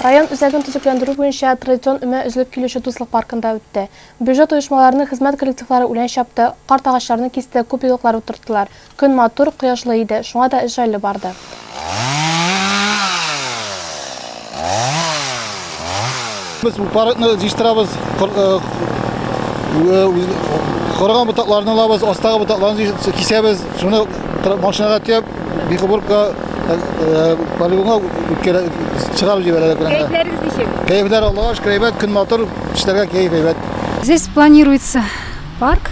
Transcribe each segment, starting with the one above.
Район үзәген төзекләндерү буенча традицион өмә өзелеп килүче Дуслык паркында үтте. Бюджет оешмаларының хезмәт коллективлары үлән чапты, карт агачларны кисте, күп елыклар утырттылар. Көн матур, кояшлы иде, шуңа да эш җайлы барды. Без упарыкны җыштырабыз, корыган ботакларны алабыз, астагы ботакларны кисәбез, шуны машинага төяп, бихубурка полигонга чыгарып җибәрәләр. Кәефләрегез ничек? Кәефләр Аллага шөкер әйбәт, көн матур, эшләргә кәеф әйбәт. Здесь планируется парк.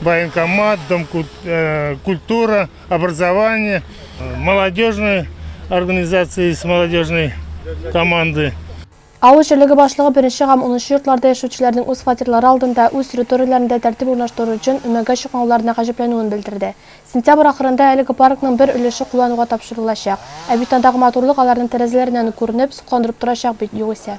Военкомат, дом э, культура, образование, молодежный организация из молодежной команды. Авыл җирлеге башлыгы беренче һәм унынчы йортларда яшәүчеләрнең үз фатирлары алдында, үз территорияләрендә тәртип урнаштыру өчен өмәгә чыкмауларына гаҗәпләнүен белдерде. Сентябрь ахырында әлеге паркның бер өлеше куллануга тапшырылачак. Ә бит андагы матурлык аларның тәрәзәләреннән үк күренеп, сокландырып торачак бит югыйсә.